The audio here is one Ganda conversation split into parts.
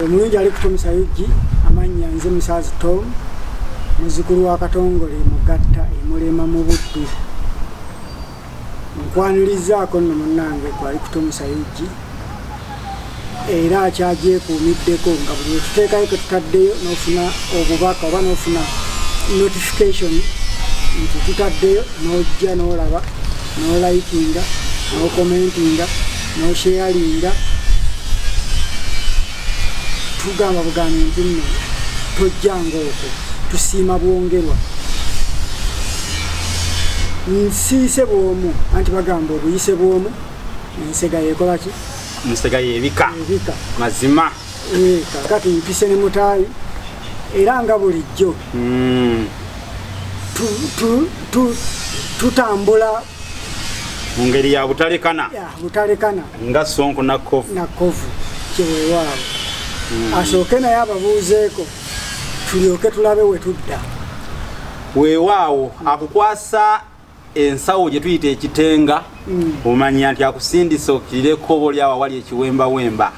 omulungi ali kutomesa yugi amannya nze musaazi tom muzukulu wa katongole mugatta emulema mu buddu nkwanirizaako nno munnange kwali kutomesa yugi era akyagyekuumiddeko nga buli wetuteekayo ketutaddeyo nofuna obubaka oba nofuna notification nti tutaddeyo nojja nolaba nolikinga nokomentinga nosheyalinga tugamba bugambi nti nno tojjanga okwo tusiima bwongerwa nsiise bwomu anti bagamba obuyise bwomu ensega yekola ki nsega yebika ebika mazima Eh, kakati mpise ne mutaayi era nga bulijjo Mm. tu- tu- tu- tutambula mu ngeri ya butalekana butalekana nga sonko nakovu nakovu kyewewaabo hmm. asooke naye ababuuzeeko tulyoke tulabe we tudda weewaawo akukwasa ensawo gye tuyita ekitenga hmm. omanya nti akusindisa okirire ekkobo lyawo awali ekiwembawemba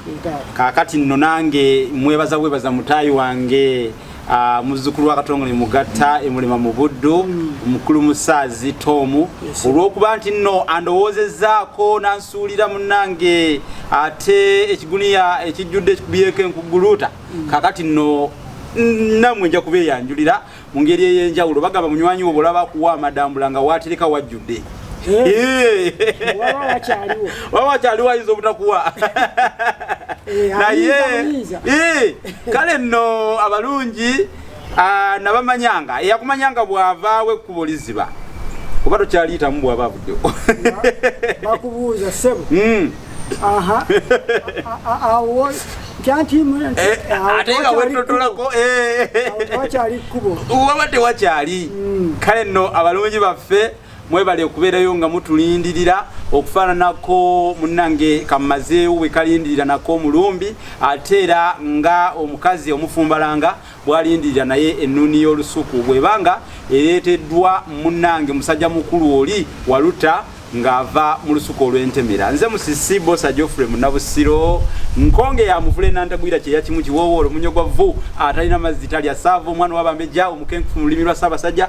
kaakati nno nange mwebaza bwebaza mutaayi wange Ah, muzzukulu wa katongole mugatta emulema mu buddu omukulu musaazi tomu olw'okuba nti nno andowoozezaako nansuulira munange ate ekiguniya ekijjudde ekikubyeko enkuguluuta mm. kakati nno namwe nja kuba eyanjulira mu ngeri ey'enjawulo bagamba munywanyi wo bwolaba kuwa amadambula nga waatereka wajjudde waba wakyaliwo ayinza obutakuwa eh, naye eh, kale nno abalungi ah, nabamanyanga eyakumanyanga bwavaawo ekkubo liziba oba tokyaliyitamu bwaba avuddewo bakubuuza sebo hmm. waba tewakyali kale nno abalungi baffe mwebale okubeerayo nga mutulindirira okufaananako munange kamazeewo bwe kalindirira nako omulumbi ate era nga omukazi omufumbalanga bwalindirira naye ennuuni y'olusuku bwebanga ereeteddwa munange musajja mukulu oli waluta ng'ava mu lusuku olw'entemera nze musisi bosa geoffrey munabusiro nkonge ya muvule nantagwira kyeya kimu kiwoowoolo munyo gwa vvu atalina mazzi talya saava omwana wabambejja omukenkufu mu lulimi lwa ssaabasajja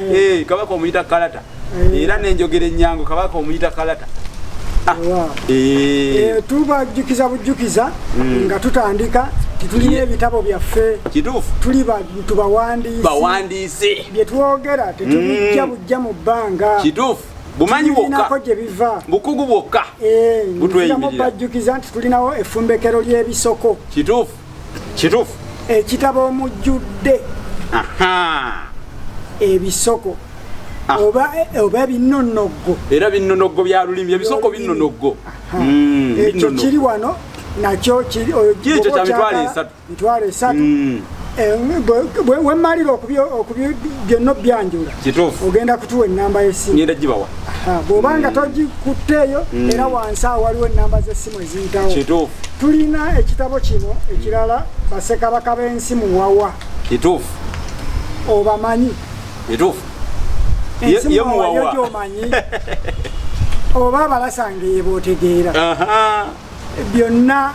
eh. Eh, kabaka omuyita kalata eh. era nenjogera enyangu kabaka omuyita kalata ah. tubajjukiza bujjukiza hmm. nga tutandika titulina ebitabo byaffe kituufu tuli bantu bawandiisi bawandiisi bye twogera tetubijja hmm. bujja mu bbanga kituufu bumanyi bwokka gye biva bukugu bwokka butweyimirira bajjukiza nti tulinawo efumbekero ly'ebisoko kituufu kituufu ekitabo omujjudde ebisoko ah. oba oba binnonoggo era binnonoggo bya lulimi ebisoko binnonoggo hmm, ekyo kiri wano nakyo kirikyo kya mitwalo esatu mitwalo esatu hmm. eh, wemmalira okubyonna obyanjula kituufu ogenda kutuwa ennamba y'essimu ngenda gibawa bw'oba nga togikutteeyo mm. era wansi awo waliwo ennamba z'essimu eziyitawo kituufu tulina ekitabo kino ekirala basekabaka b'ensi muwawa kituufu obamanyi kituufu ensi muwawa yo gyomanyi oba abalasanga eyebootegeera byonna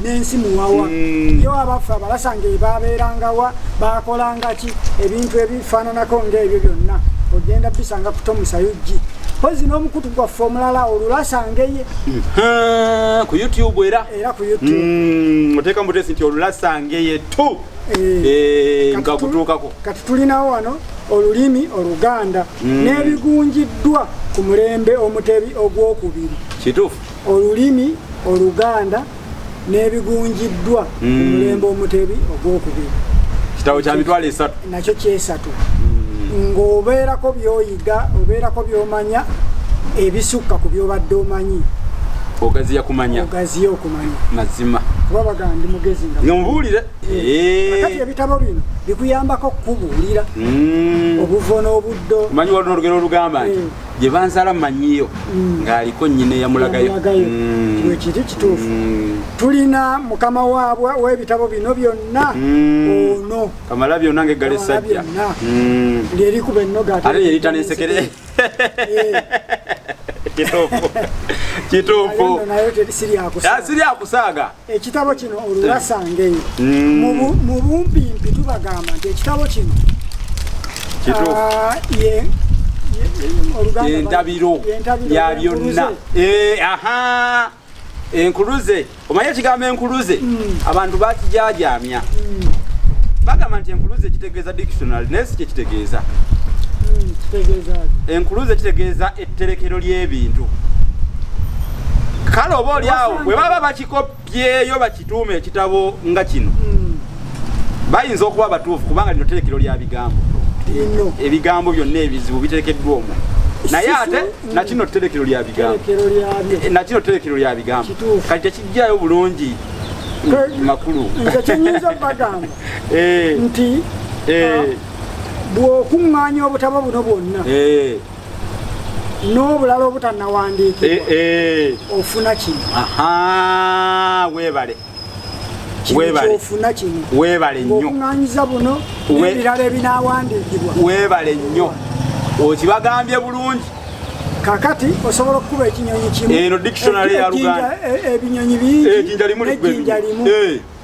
n'ensi muwawa mm. yo abaffe abalasanga ebabeerangawa bakolanga ki ebintu ebifaananako ng'ebyo byonna ogenda bisanga kutomusayo gi pozi n'omukutu gwaffe omulala olulasangeye mm-hmm. ku youtube era era ku youtube mm, oteeka mutesi nti olulasangeye tu eh, eh, nga gutuukako kati tulinawo wano olulimi oluganda mm. n'ebigunjiddwa ku mulembe omutebi ogwokubiri kituufu olulimi oluganda n'ebigunjiddwa ku mm. mulembe omutebi ogwokubiri kitabo kya mitwalo esatu nakyo kyesatu mm. ng'obeerako byoyiga obeerako byomanya ebisukka ku byobadde omanyi ogaziya kumanya ogaziya okumanya mazima kuba bagandi mugezi nga nyobuulire eh. eh. kati ebitabo bino bikuyambako kukubuulira mm. obuvo n'obuddo manyi walina olugero olugamba nti eh. gye banzala manyiyo mm. ng'aliko nnyina eyamulagayo mm. wekiri kituufu mm. tulina mukama waabwe w'ebitabo bino byonna ono kamala byonna ng'eggala essajja lyerikuba ennoga ate yerita n'ensekere eh. kituufu kituufu siryakusaaga ekitabo kino olulasange mm. mu bumpimpi tubagamba nti ekitabo kino ah, entabiro ya byonna eh, enkuluze omanyi ekigambo enkuluze mm. abantu bakijajamya mm. bagamba nti enkuluze kitegeeza dictionary naye si kyekitegeeza enkuluze kitegeeza etterekero ly'ebintu kale oba olyawo bwe baba bakikoppyeyo bakituuma ekitabo nga kino hmm. bayinza okuba abatuufu kubanga lino terekero lya bigambo ebigambo byonna ebizibu biterekeddwa omwo naye ate hmm. nakino terekero lya bigambo eh, nakino terekero lya bigambo kati tekijjayo bulungi makulu nze kinyinza bagamba eh. nti eh. ah, bw'okuŋŋaanya obutabo buno bwonna n'obulala obutanawandiikibwa eh, eh. ofuna kino webale kyofuna kino webale nnyo okunganyiza buno n'ebirala ebinawandiikibwa webale nnyo okibagambye bulungi kakati osobola okukuba ekinyonyi kimu eno dictionary ya luganda e, e, ebinyonyi bingi ejinja limu ejinja limu eh.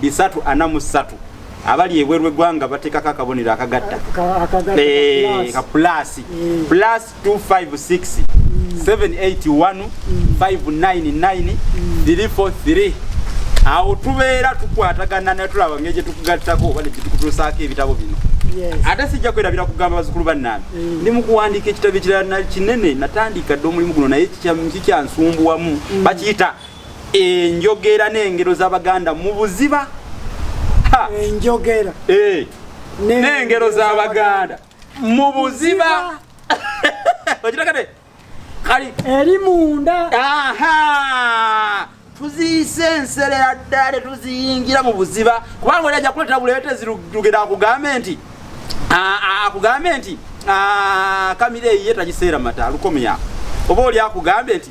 bisatu ana mu ssatu abali ebweru egwanga batekako akabonero akagatta ka plus plus 256 781 599 343 awo tubeera tukwatagana naye tulaba ngeri gye tukugattako oba negyetukutuusaako ebitabo bino ate sijja kwerabira kugamba bazukulu bannange mm. ndi mu kuwandiika ekitabo ekirala kinene natandika dde omulimu guno naye kikyansumbuwamu mm. bakiyita enjogera n'engero z'abaganda mu buziba enjogera eh, n'engero z'abaganda mu buziba okirakate kali eri munda tuziyise enserera ddala tetuziyingira mu buziba kubanga oli ajja kuleetera buleetezi lugenda akugambe nti akugambe nti kamira eyiye tagiseera mata lukomya oba oli akugambye nti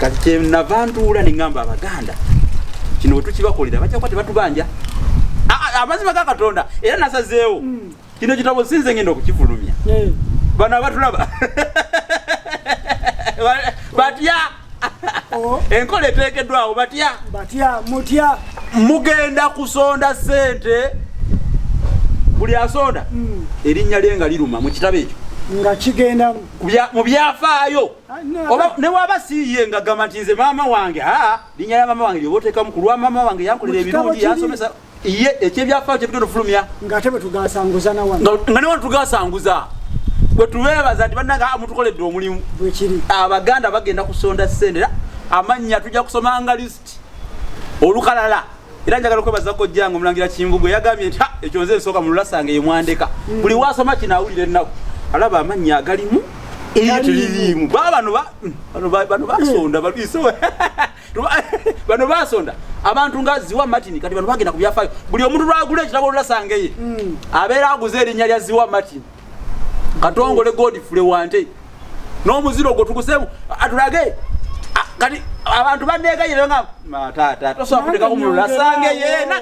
kati kyenava ntuula neŋamba abaganda kino wetukibakolera bajja kuba tebatubanja amazima ga katonda era nasazeewo hmm. kino kitabo sinze ngenda okukifulumya eh. bano abatulaba batya oh. enkola eteekeddwawo batya batya mutya mugenda kusonda sente buli asonda hmm. erinnya lye nga liruma mu kitabo ekyo nga kigenda mu byafaayo oba newaba siye nga gamba nti nze maama wange aa linya ya maama wange lyobotekamu ku lwa maama wange yankolera ebirungi yansomesa iye ekyebyafaayo kyebigenda ofulumya nga newa tugasanguza bwetubebaza nti banange ah, mutukoledde omulimu abaganda bagenda kusonda sente era amannya tujja kusomanga list olukalala era njagala okwebaza kojjange omulangira kimbugu eyagambye nti ekyo nze nsooka mululasanga yemwandeka mm. buli wasoma kino awulira ennaku alaba amannya agalimu eyo teririimu baba bano bano basonda mm. balwiso bano basonda abantu nga ziwa martin kati bano bagenda ku byafaayo buli omuntu lwagula ekitabo olulasanga eye mm. abeera aguze erinnya lya ziwa martin katongole godfule wante n'omuziro ogwo tugusemu atulage kati abantu banegayire nga matata tosobola kuteka ku mululu asange yena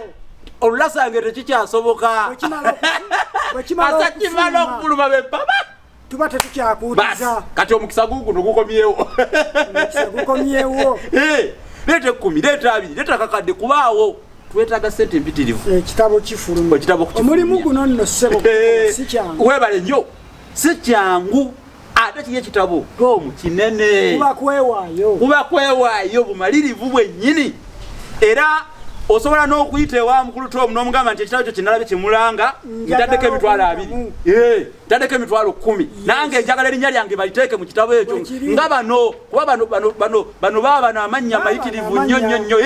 olulu asange tekikyasoboka asakimala okufuluma bepaba tuba tetukyakuuza kati omukisa guguno gukomyewo gukomyewo eh, leeta ekumi leeta abiri leeta kakadde kubaawo twetaaga sente empitirivu ekitabo eh, kifuluma ekitabo kifuluma omulimu guno nno ssebo eh, si kyangu webale nnyo si kyangu ate kiri ekitabo tomu kinene kuba kwewaayo kuba kwewaayo bumalirivu bwennyini era osobola n'okuyita ewa mukulu tomu n'omugamba nti ekitabo kyo kinalabe kyemulanga ntaddeko emitwalo abiri eh, ntaddeko emitwalo kkumi nange njagala erinnya lyange baliteeke mu kitabo ekyo nga bano kuba bano bano bano bano baabano amannya mayitirivu nnyo nnyo nnyo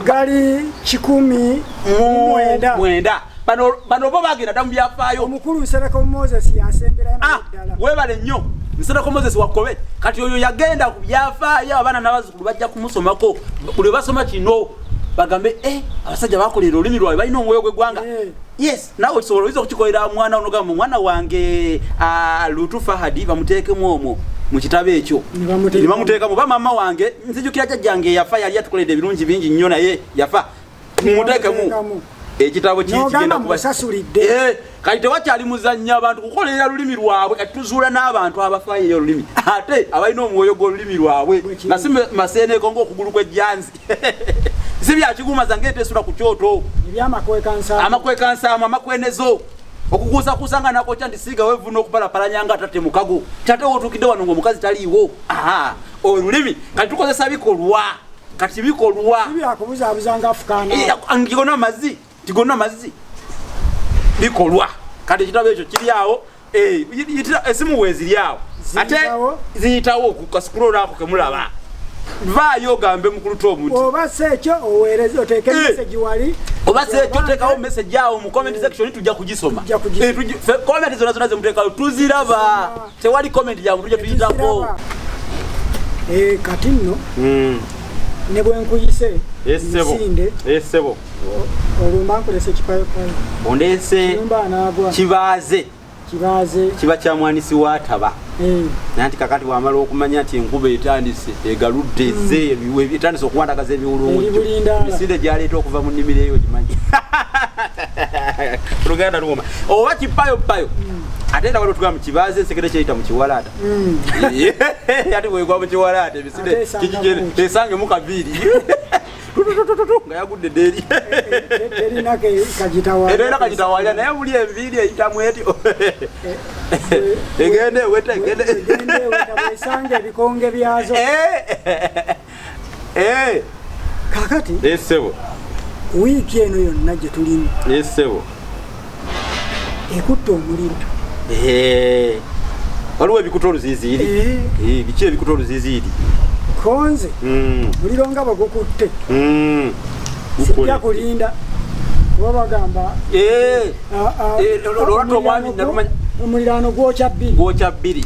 gali kikumi mwenda mwenda bano bano bo bagenda damu byafaayo omukulu nsereko moses yasembera ah, naddala webale nnyo nsereko moses wakobe kati oyo yagenda ku byafaayo abaana n'abazzukulu bajja kumusomako buli basoma kino bagambe eh, abasajja bakolera olulimi lwabwe balina omwoyo gw'eggwanga eh. yes nawe osobola oyinza okukikolera mwana onogamba mwana wange lutu fahadi bamuteekemu omwo mu kitabo ekyo ne bamuteekamu ba maama wange nzijukira jajjange yafa yali atukoledde ebirungi bingi nnyo naye yafa mumuteekemu ekitabo kigenda kubasasulidde eh, kati tewakyali muzannya abantu kukolera lulimi lwabwe kati tuzuula n'abantu abafaayo eyo olulimi ate abalina omwoyo gw'olulimi lwabwe nasi maseeneeko ngaokugulu kw'ejjanzi si byakiguuma zange etesula ku kyoto amakwekansaamu amakwenezo okukuusakuusa nga nakokya nti siiga wevuna okubalapalanya nga tate mukago tate wotuukidde wano nga omukazi taliiwo olulimi kati tukozesa bikolwa kati bikolwa ngiona amazi tigonna mazzi bikolwa kati ekitabo ekyo kiri awo eh, esimu weziri awo ate ziyitawo kukasikula olwako kemulaba vaayo ogambe mukuluta omuntu oba si ekyo oweereze oteeke eh. mesegi wali oba si ekyo oteekawo mesegi awo mu comment section tujja kugisoma eh, comment zona zona zemuteekayo tuziraba tewali comment ya muntu jetuyitako eh, kati nno hmm. ne bwenkuyise eh, misinde eh, sebo olwo mba nkulese kipayopayo ondeese kibaaze kibaaze kiba kya mwanisi wataba nanti kakati wamala okumanya nti enkuba etandise egaludde hmm. ze etandise okuwandagaza ebiwulungu misinde gyaleeta okuva mu nnimiro eyo gimanyi luganda luwoma oba kipayopayo hmm. ate era waliwo tugamba kibaazi ensekere kyeyita mu kiwalaata mm. ate bwegwa mu kiwalaata ebisire esange mu kaviiri nga yagudde deri era kagitawalya naye buli enviiri eyitamu etyo egende eweta egende esange ebikonge byazo eh. eh kakati eh sebo week eno yonna gye tulimu eh sebo ekutte omuliro eh waliwo ebikuta oluziziiri eh. eh, biki ebikuta oluziziiri konze hmm. muliro nga bagukutte hmm. sijja kulinda kuba bagamba eh. ah, ah, eh, omuliraano gwokya bbiri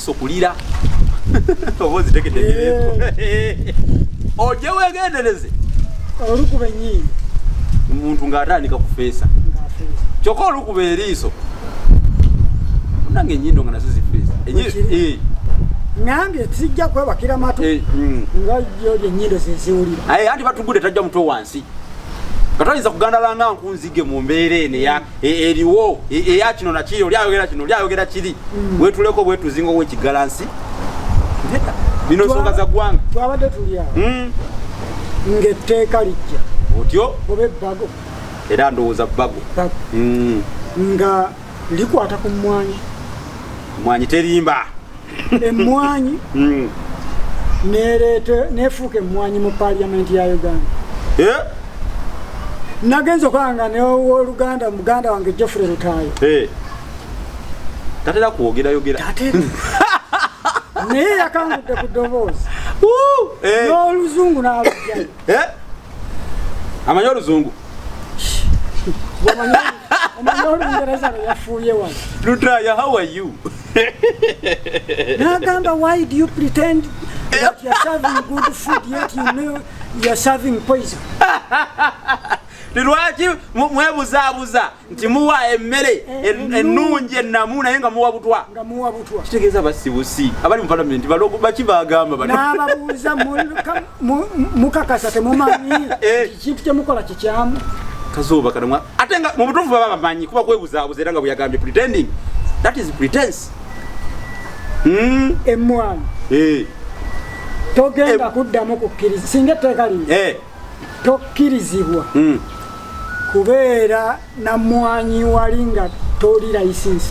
sokulira oba ozitegedde nyireeko ojje wegendereze olukuba enyindo omuntu ng'atandika kufeesa kyokka olukuba eriiso nange enyindo nga nazo zifeesa eh. nange tijja kwebakira matu eh, mm. nga yo lyenyindo zeziwulira anti batugudde tajja mutwe wansi nga toyinza kugandalanga nkunzige mu mbeera eno e, eriwo e, eya kino nakiri oli ayogera kino oli ayogera kiri mm. wetuleko bwetuzinga owekigalansi bino nsonga za ggwanga twabadde tulya mm. ngaetteeka lijja otyo oba ebbago era ndowooza bbago mm. nga likwata ku mmwanyi mmwanyi terimba emmwanyi hmm. nefuuka emmwanyi mu paliamenti ya uganda eh? nagenza okwanga newoluganda muganda wange jeffrey lutayo eh. tatera kwogerayogera naye yakangudde ku doboozi eh. n'oluzungu n'abajayo amanyi oluzungu nagamba why do you pretend that you're serving good food yet you know you're serving poison lwaki mwebuzaabuza nti muwa emmere eh, eh, ennungi ennamu naye nga muwa butwa kitegeeza basibusi abali mu palamenti balogo baki bagamba banababuuza mukakasa temumanyi eh. kintu kyemukola kikyamu kazooba kana ate nga mu butuufu baba bamanyi kuba kwebuzaabuza era nga bweyagambye pretending that is pretense hmm? emwana eh. togenda eh. kuddamu kukkiriza singa etteeka lino eh. tokkirizibwa hmm. kubeera na mwanyi wali nga toli license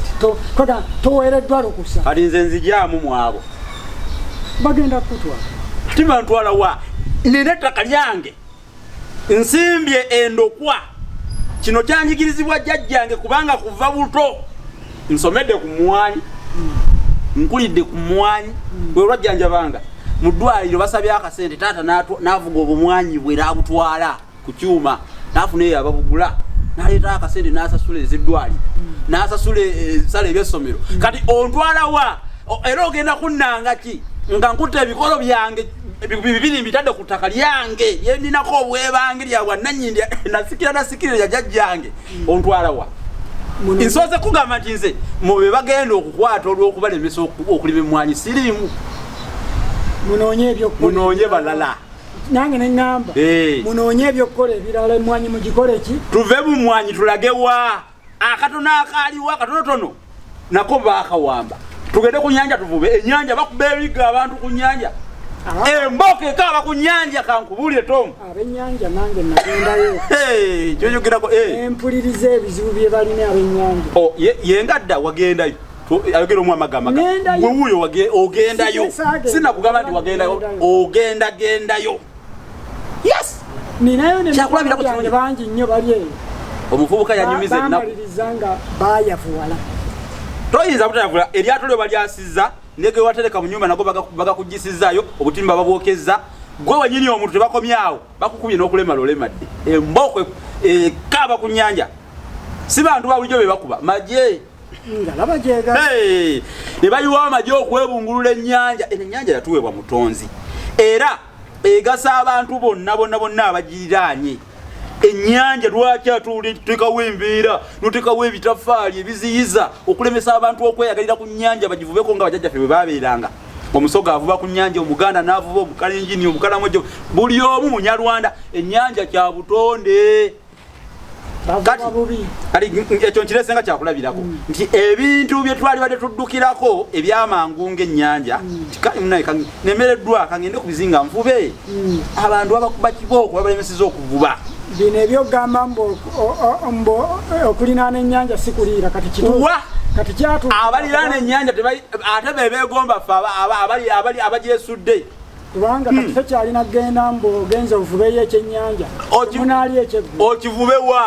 kota toweereddwa lukusa kati nze nzijaamu mwabo bagenda kutwala tibantwala wa nina ettaka lyange nsimbye endokwa kino kyanjigirizibwa jjajjange kubanga kuva buto nsomedde ku mwanyi nkulidde ku mwanyi bwelwajjanjabanga mu ddwaliro basabye akasente taata navuga obumwanyi bwe nabutwala ku kyuma nafuna eyo ababugula naleeta akasente nasasula eziddwaliro nasasula ebisala eh, ebyessomero kati ontwalawa era ogenda kunnanga ki nga nkutte ebikolo byange bibiri mbitadde ku ttaka lyange lyeninako obwebange lya bwannanyini nasikira nasikira lya jajjange hmm. ontwala wa nsoose kugamba nti nze mu be bagenda okukwata olw'okubalemesa okulima emmwanyi siriimu munoonye balala nange neŋamba munoonye ebyokukola ebirala emmwanyi mugikole ki tuve mu mwanyi tulagewa akatono akaaliwo akatonotono nako baakawamba tugende ku nyanja tuvube enyanja bakuba ebigga abantu ku nyanja emboka ekaaba ku nyanja kankubuulire tomu abenyanja nange nagendayo kyoyogerako eh. empuliriza ebizibu bye balina abenyanja oh, yengadda wagendayo ayogera omu amagamba wewuuyo ogendayo sinakugamba nti wagendayo ogenda gendayo yes ninayo ne kyakulabira ku kirungi bangi nnyo bali eyo omuvubuka yanyumiza ennaku nga bayavuwala toyinza butayavula eryato lyo balyasizza nege watereka mu nyumba nago bagakugisizzaayo obutimba babwokezza gwe wenyini omuntu tebakomyawo bakukubye n'okulemala olemadde embooko ekaaba ku nyanja si bantu babulijjo be bakuba maje ne bayiwawo amagye okwebungulula ennyanja eno ennyanja yatuweebwa mutonzi era egasa abantu bonna bonna bonna abagiriraanye ennyanja lwaki atutekawo embeera notekawo ebitafaali ebiziyiza okulemesa abantu okweyagalira ku nnyanja bagivubeko nga bajajjaffe bwe babeeranga omusoga avuba ku nyanja omuganda navuba omukalenjini omukalamojo buli omu munyarwanda enyanja kya butonde kati ekyo nkirese nga kyakulabirako mm. nti ebintu byetwali badde tuddukirako ebyamangu ngaennyanja mm. nemereddwa kangende ku bizinga nvube mm. abantu abakuba kibooko babalemeseza okuvuba bino ebyogamba mbu okulinaana ennyanja sikuliira kati kituwa abaliraana ennyanja ate bebegomba fe abali abagyesudde kubanga kati tokyalina kugenda mbu ogenza ovubeyo ekyennyanja munaalya ekyeggulu okivubewa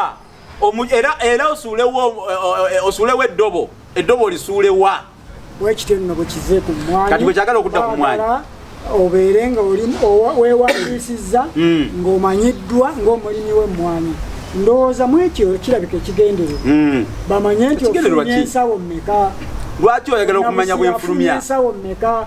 era era osuulewo eh, eh, osuulewo eddobo eddobo olisuulewa wekityo nno bwekize ku mwanyi kati bwekyagala okudda ku mwanyi obeere nga oli wewandiisizza hmm. ng'omanyiddwa ng'omulimi w'emmwanyi ndowooza mu ekyo kirabika ekigendererwa hmm. bamanye nti ofunye ensawo mmeka lwaki oyagala okumanya bwenfulumya ensawo mmeka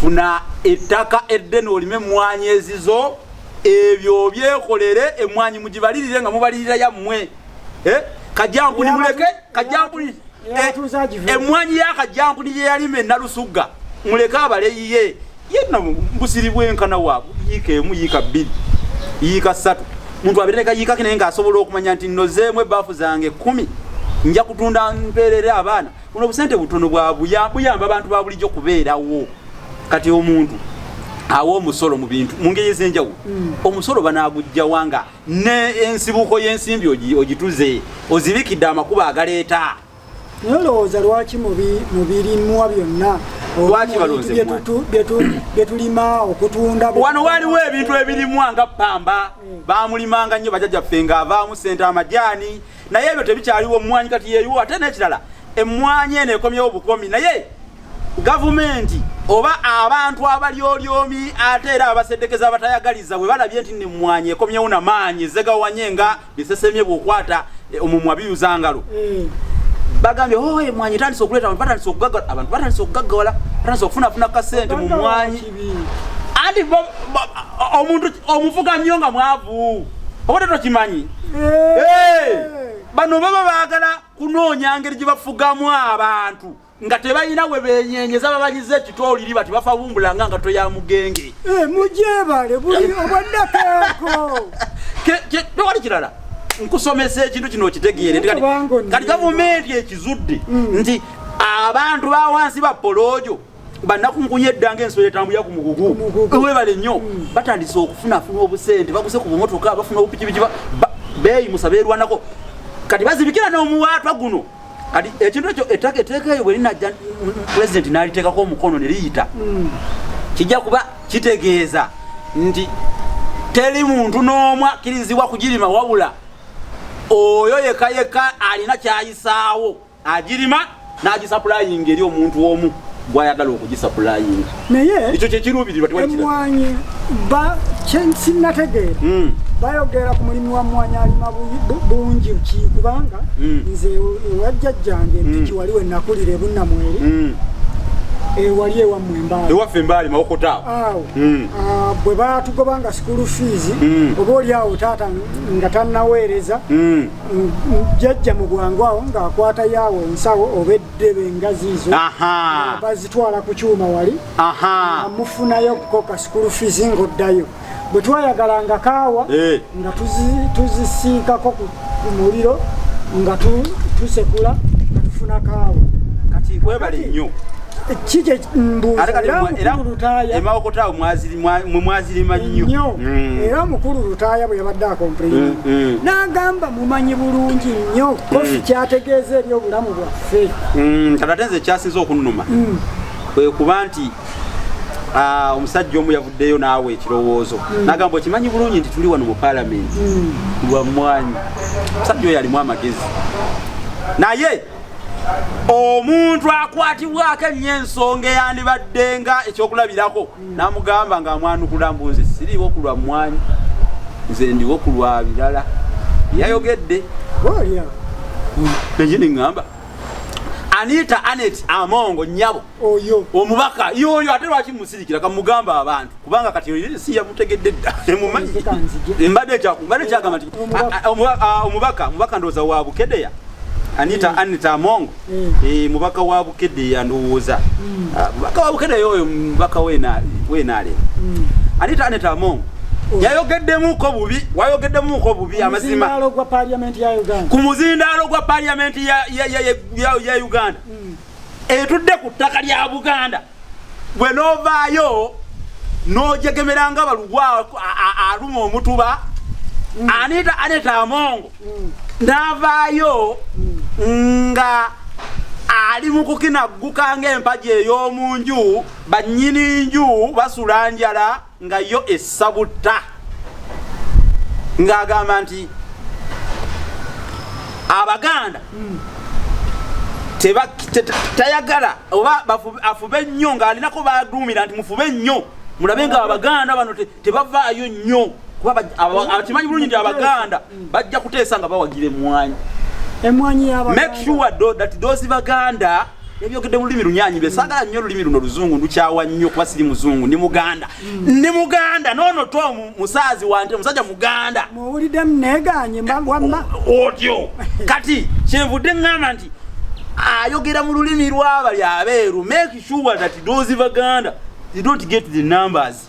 funa ettaka eddene olime emmwanyi ezizo ebyo obyekolere emmwanyi mugibalirire nga mubalirira yammwe eh? kajambuni muleke kajambuni eh, emmwanyi ya kajambuni gye yalima enalusugga muleke abaleyiye yenna busiri bwenkana wa yiika emu yiika bbiri yiika ssatu muntu abere nekayiikaki naye ngaasobola okumanya nti nozeemu ebbaafu zange kumi nja kutunda mpeerere abaana buno obusente butono bwabuyamba abantu babulijjo kubeerawo kati omuntu awa omusolo mu bintu mu ngeri ez'enjawulo hmm. omusolo banagujjawa nga ne ensibuko y'ensimbi ogituze ozibikidde amakuba agaleeta nolowooza lwaki mubirimuwa byonna byetulima okutunda wano waliwo ebintu ebirimwa nga pamba hmm. bamulimanga nnyo bajajaffe ngaavaamu sente amajaani naye ebyo tebikyaliwo mmwanyi kati yeyiwo ate n'ekirala emmwanyi eno ekomyewo bukomi naye gavumenti oba abantu abalyolyomi ate era abasedekeza abatayagaliza bwe balabye nti nemmwanyi ekomyewo na maanyi ezegawanye nga bisesemye bwokwata eh, omumwa biyuza ngalo mm. bagambye oh, emwanyi etandise okuleeta abantu batandise okugaggala abantu batandise okugaggawala batandise okufunafuna kasente mu mwanyi anti omuntu omufuga nnyo nga mwavu oba tetokimanyi bano baba baagala kunoonya ngeri gye bafugamu abantu nga tebalina we benyenyeza babanyiza ekitooliri bati bafabumbulanga nga toya mugenge eh, mujebale buli obwannakako tewali kirala nkusomesa ekintu kino okitegeere kati gavumenti ekizudde mm. nti abantu bawansi ba poloojo banakungunya eddanga ensolo etambulira ku mugugu webale nnyo mm. batandise okufunafuna obusente baguze ku bumotoka bafuna obupikipiki beeyi musaba erwanako kati bazibikira n'omuwaatwa guno kati ekintu ekyo ettaka eteeka eyo bwerinajja pulezidenti n'aliteekako omukono ne liyita mm. kijja kuba kitegeeza nti teri muntu n'omu akkirizibwa kugirima wabula oyo yekayeka alina kyayisaawo agirima n'agisapulayinga eri omuntu omu gwayagala okugisapulayinga naye ekyo kyekiruubirirwa emwanyi kyenkinategeera hmm. bayogera ku mulimu wa mwanyi alima bungi ki kubanga hmm. nze ewajjajjange hmm. ntiki wali wenakulira ebunamweri ewali ewammwe embaali ewaffe embaali mawokota awo hmm. ah, bwe batugobanga sikuulu fiizi hmm. oba oli awo taata nga tannaweereza hmm. jajja mu bwangu awo ng'akwata yaawo ensawo oba eddebe engazi izo bazitwala ku kyuma wali amufunayo okukoka sukulu fizi ng'oddayo bwe twayagala nga kaawa eh. nga tuzisiikako ku muliro nga tusekula nga tufuna kaawa kati webale nnyo kiki emawokotaawo mwazirima nnyo mm. era mukulu lutaaya bwe yabadde akompulayini mm, mm. n'agamba mumanyi bulungi nnyo kofi kyategeeza eri obulamu bwaffe ate nze ekyasinza okunnuma kwe kuba nti ah, omusajja omu yavuddeyo naawe ekirowoozo nagamba okimanyi bulungi nti tuli wano mu palamenti lwa mwanyi omusajja oyo alimu amagezi naye omuntu akwatibwako ennyo ensonga eyandibadde nga ekyokulabirako namugamba nga amwanukula mbu nze siriwo ku lwa mmwanyi nze ndiwo ku lwa birala yayogedde ekindi ŋŋamba anita anet amongo nnyabo oyo omubaka yoyo ate lwaki musirikira kamugamba abantu kubanga kati oyo si yamutegedde dda emumanyi mbadde mbadde kyagamba nti omubaka omubaka ndowooza wa bukedeya anita mm. anita amongo mm. e, mubaka wa bukedeya ndowooza mm. ah, mubaka wa bukedeya oyo mubaka wenaale mm. anita anita amongo yayogeddemuko bubi wayogeddemuko bubi amazima ku muzindaalo gwa paliyamenti ya uganda etudde ku ttaka lya buganda gwe novaayo nojegemera nga balugwa aluma omutuba mm. anita aneta amongo mm. navaayo mm. nga ali mukukinagguka ngaempaji eyomunju banyini nju basula njala nga yo essa butta ng'agamba nti abaganda hmm. tayagala oba afube nnyo ng'alinako baduumira nti mufube nnyo mulabe nga abaganda bano tebavaayo nnyo kuba akimanyi bulungi nti abaganda bajja kuteesa nga bawagira emwanyi emwanyi yaba make sure do, that those baganda ebyogedde mu lulimi lunyanyi be sagala nnyo olulimi luno luzungu ndukyawa nnyo kuba siri muzungu ndi muganda ndi muganda noono to musaazi wante musajja muganda muwulidde muneganye wamma otyo kati kyenvudde ŋŋamba nti ayogera mu lulimi lwabali abeeru make sure that those baganda they don't get the numbers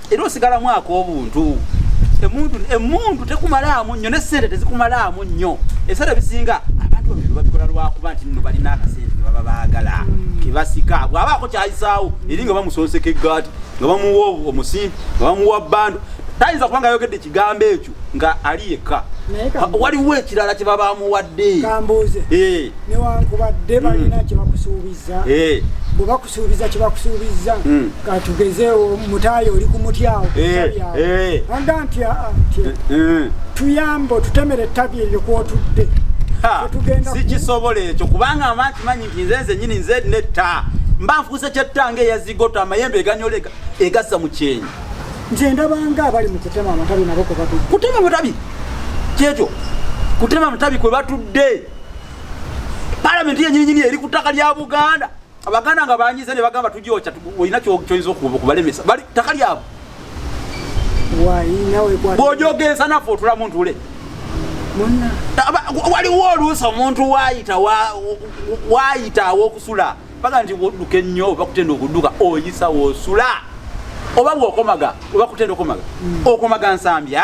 era osigalamu ak'obuntu emundu emundu tekumalaamu nnyo nesente tezikumalaamu nnyo ebiseera ebisinga abantu babiri babikola lwakuba nti nno balina akasente kebaba baagala hmm. kebasika bwabaako kyayisaawo eri nga bamusonseka eggaati nga bamuwa omusimbi nga bamuwa bando tayinza kubanga ayogedde ekigambo ekyo nga ali yekka waliwo ekirala kye baba amuwadde kambuuze eh. newankubadde balina hmm. kyebakusuubiza eh. suubiza kyebakusuubizza hmm. katugezeewo mutaayo oli kumutyawo eh, eh. anga nti ah, ah, eh, hmm. tuyamba otutemera ettabi eryo kwotudde sikisobola ekyo kubanga amanti manyi nti nze nze nyini nze netta mba nfuuse kyettanga eyazigota amayembe eganyola egassa mu kyenyi nze ndabanga abali mu kutema amatabi nabo kwebatu kutema amatabi kyekyo kutema amatabi kwe batudde palamenti yenyininyini eri ku ttaka lya buganda abaganda nga banyize ne bagamba tujoca olina kyoyinza okubalemesa bali taka lyabo bwojogensa naffe otulamu ntule waliwo oluusi omuntu wayita wayita awokusula baga nti woduka ennyo oba kutenda okuduka oyisa wosula oba bwokomaga oba kutenda okomaga hmm. okomaga nsambya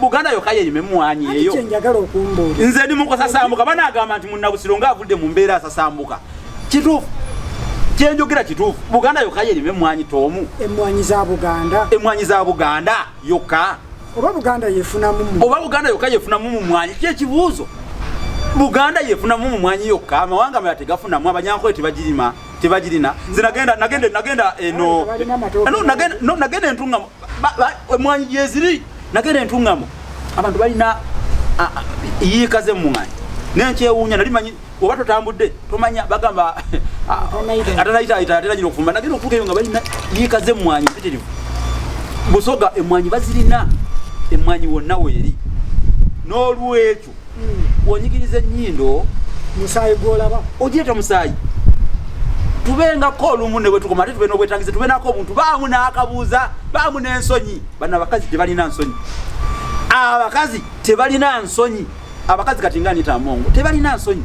buganda yoka yeyima emwanyi eyo nze ndi mukusasambuka banagamba nti munabusiro nga avudde mu mbeera asasambuka kituufu kyenjogera kituufu buganda yoka yeyima emwanyi toomu emwanyi za buganda emwanyi za buganda yoka oba buganda yefunamu oba buganda yoka yefunamu mu mwanyi kyekibuuzo buganda yefunamu mu mwanyi yokka amawanga mala tegafunamu abanyankole tebagirima tebagirina nze nagenda nagenda nagenda eno no nagenda no nagenda entungamo emwanyi gyeziri nagenda entungamo abantu balina yiika z'emmwanyi naye nkyewuunya nali manyi oba totambudde tomanya bagamba atanayitaayita ate nagina okufumba nagenda okutuuka eyo nga balina yiika z'emmwanyi mpitirivu busoga emmwanyi bazirina emmwanyi wonna weeri n'olwekyo wonyigiriza ennyindo musaayi gwolaba ogireeta musaayi tubengako olumu ne bwetukoma ate tube n'obwetangize tube nako obuntu baamu n'akabuuza baamu n'ensonyi bano abakazi tebalina nsonyi abakazi tebalina nsonyi abakazi kati nga nita mongo tebalina nsonyi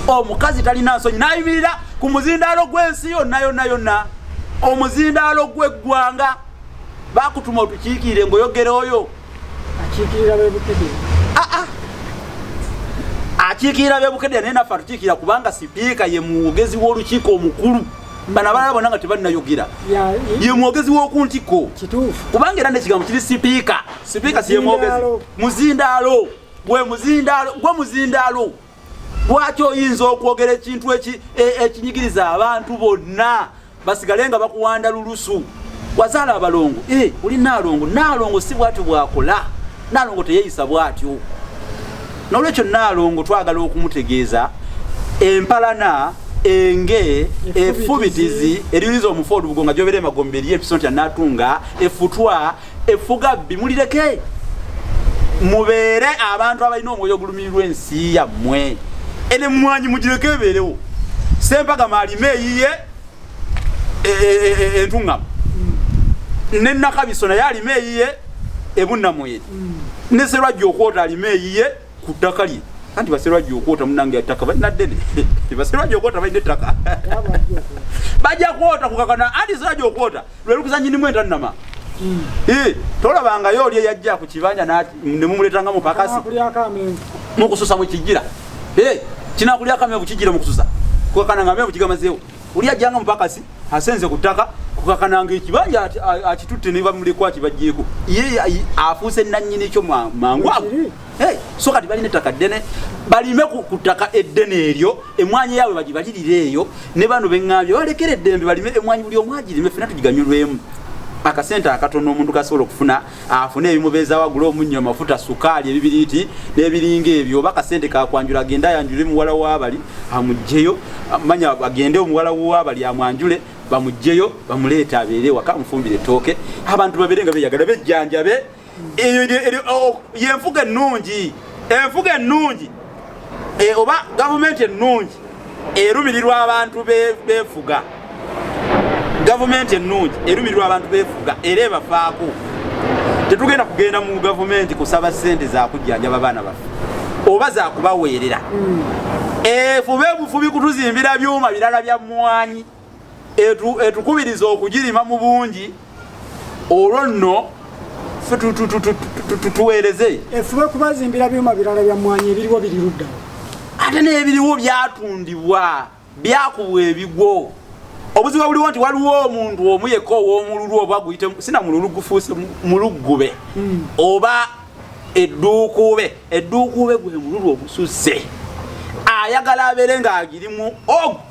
omukazi talina nsonyi nayimirira ku muzindaalo gw'ensi yonna yonna yonna omuzindaalo gw'eggwanga bakutuma otukiikiire ngoyogera oyo akiikirira b'e Bukedde ah, ah. akiikirira b'e Bukedde naye naffe atukiikirira kubanga sipiika ye mwogezi w'olukiiko omukulu bano abalala bona nga tebannayogera ye mwogezi w'oku ntikko kubanga era n'ekigambo kiri sipiika sipiika si ye mwogezi muzindaalo gwe muzindaalo gwe muzindaalo lwaki oyinza okwogera ekintu e, ekinyigiriza abantu bonna basigale nga bakuwanda lulusu wazaala abalongo eh, oli naalongo naalongo si bwatyo bwakola naalongo teyeyisa bwatyo nolwekyo naalongo twagala okumutegeeza empalana enge efubitizi eririza omufu olubugo nga gyobera emagombe eriyo episonti anatunga efutwa effugabbi mulireke mubeere abantu abalina omwoyo ogulumirirwa ensi yammwe enemwanyi mugireko ebeerewo sempaga maalima eyiye e, e, e, entuŋŋamu ne nakabiso naye alima eyiye ebunnamuye mm. ne serwajja okwota alima eyiye ku ttaka lye anti baserwajja okwota munange yattaka balina ddene baserwajja okwota balina ettaka bajja kwota kukakana anti serwajja okwota lwelukuza nyinimu entannama hmm. eh, tolabangayo oli eyajja ku kibanja nemumuletanga mupakasi mukususa mukijira eh, kinakulyako amenvu kijira mukususa kukakana nga amenvu kigamazeewo oli ajja nga mupakasi asenze ku ttaka kukakananga ekibanja akitutte ne bamulekwa kibajjeeko ye afuuse nannyini kyo mangu ago so kati balina ettaka ddene balime ku ttaka eddene eryo emwanyi yaabwe bagibalirire eyo ne bano beŋambye balekera eddembe balime emwanyi buli omwagirime fena tugiganyulwemu akasente akatono omuntu kasobola okufuna afune ebimubeezawo agule omunnyo amafuta sukaali ebibiriiti n'ebiringa ebyo oba kasente kakwanjula agende ayanjule muwala wabali amugjeyo manya agende omuwala wabali amwanjule bamugjeyo bamuleeta abeere waka amufumbire ettooke abantu babeere nga beyagala bejjanjabe yenfuga ennungi enfuga ennungi e, oba gavumenti ennungi erumirirwa abantu befuga gavumenti ennungi erumirirwa abantu befuga era ebafaako tetugenda kugenda mu gavumenti kusaba sente zakujjanjaba abaana baffe oba zakubaweerera mm. efube bufubi kutuzimbira byuma birala bya mwanyi etukubiriza okugirima mu bungi olwo nno tuweereze efube kubazimbira byuma birala bya mwanyi ebiriwo biri ludda ate n'ebiriwo byatundibwa byakubwa ebigwo obuzibu buliwo nti waliwo omuntu omu yekka ow'omululu oba guyite sina mululu gufuuse muluggube hmm. oba edduukuube edduukuube gwe mululu ogususse ayagala abeere ng'agirimu ogu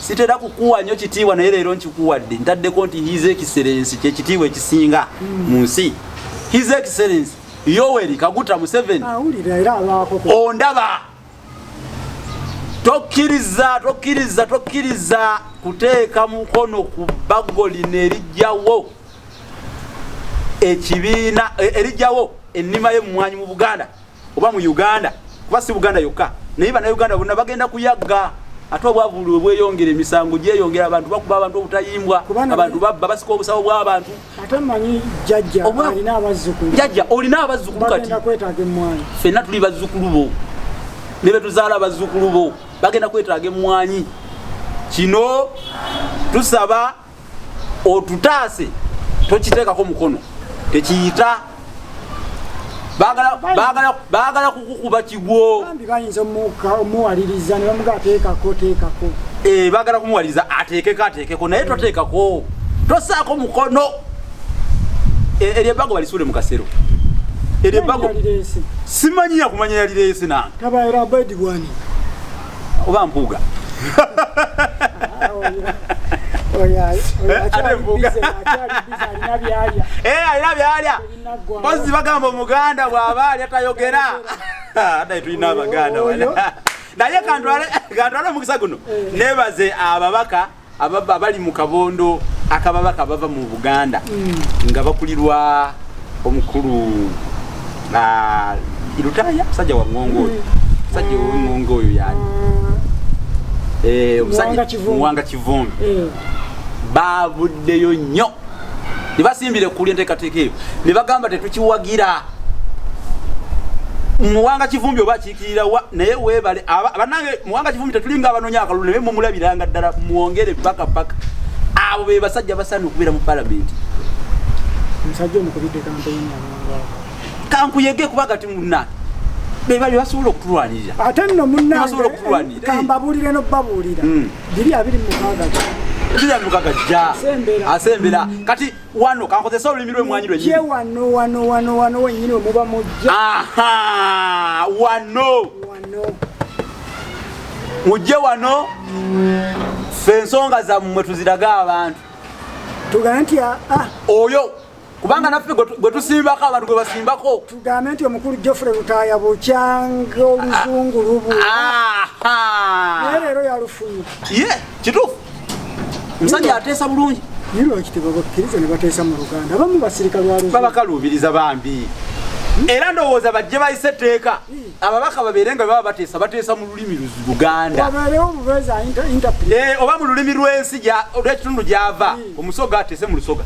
sitera kukuwa nyo kitiibwa naye leero nkikuwadde ntaddeko nti his excellence kyekitiibwa ekisinga hmm. mu nsi his excellence yoweri kaguta museveni ondaba tokkiriza tokkiriza tokkiriza kuteeka mukono ku bbago lino erijjawo ekibiina e, erijjawo ennima y'emmwanyi mu buganda oba mu uganda kuba si buganda yokka naye banauganda bonna bagenda kuyagga ate obwavulu webweyongera emisango gyeyongera abantu bakuba abantu obutayimbwa abantu babba basika obusabo bwabantu jajja olina abazzukulu kati fenna tuli bazzukulu bo ne betuzaala bazzukulu bo bagenda kwetaaga emmwanyi kino tusaba otutaase tokiteekako mukono tekiyita bagala kukukuba kigwo eh, bagala kumuwaliriza ateekeko ateekeko naye toteekako tosaako mukono eh, eryo ebbago balisuule mu kasero eryo ebbago simanyi yakumanya yalireese nange oba mpuuga alina byalya mpozi bagamba omuganda bw'aba alya tayogera adaye tulina abaganda naye kantwale omukisa guno eh. nebaze ababaka ababa abali mu kabondo akababaka bava mu buganda mm. nga bakulirwa omukulu ah, irutaya musajja wa ngongo oyo mm. musajja owengongo oyo yani eh, muwanga kivumbi eh. bavuddeyo nnyo ne basimbira ekuli enteekateeka eyo ne bagamba tetukiwagira muwanga kivumbi oba kirawa naye webale banange muwanga kivumi tetulinga abanonya akalulu naye mumulabiranga ddala mwongere paka paka abo be basajja basaana okubeera mu palamenti omusajja omukubidde kampeyini kankuyege kuba gati munna bebali basobola okutulwanirira ate nno munnabasobola okutulwanirira kambabuulire no babuulira hmm. biri abiri mukaaga biri abiri mukaaga jja asembera kati wano kankozesa olulimi lwemwanyi lwenyini wano wano wano wano wenyini wemuba mujja aha wano wano mujje wano fe ensonga zammwe tuziraga abantu tugambe nti ah, ah. oyo kubanga naffe gwe tusimbako abantu gwe basimbako tugambe nti omukulu jofre lutaya bukyanga oluzungu lubu naye leero yalufunye kituufu omusajja ateesa bulungi naye lwaki tebabakkiriza ne bateesa mu luganda abamu basirika lwababakaluubiriza bambi era ndowooza bajje bayise etteeka ababaka babeere nga baba bateesa bateesa mu lulimi luganda eh, oba mu lulimi lw'ensi olwekitundu gyava omusoga ateese mu lusoga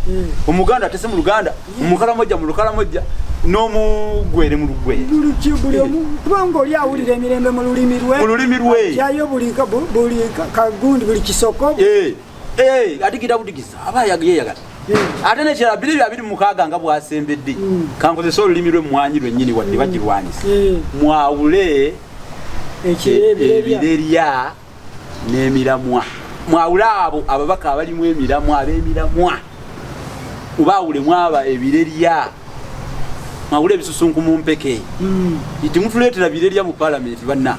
omuganda ateese mu luganda mumukalamojja mulukalamojja nomugwere mulugwere kubanga oli awulira emirembe mululimi lwe mululimi lwe yayo buli kagundi buli kisoko eh, eh, adigida budigiza aba yeyagala eh. ate nekirala biri bya biri mukaaga nga bwasembedde hmm. kankozesa olulimi lwe mwanyi lwenyini wadde hmm. bagirwanyisa mwawule ebirerya n'emiramwa mwawule abo ababaka abalimu emiramwa ab'emiramwa oba awulemu aba ebirerya mwawule ebisusunku mu mpeke itimutuleetera hmm. birerya mu palamenti banna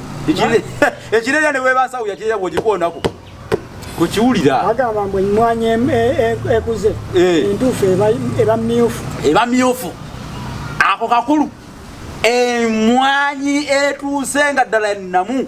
ekirerya ne webansawo yakirerya bwogikoonako kukiwulira agamba mbu emmwanyi ekuze e, e, e, entuufu eba myufu eba myufu ako kakulu emwanyi etuuse nga ddala ennamu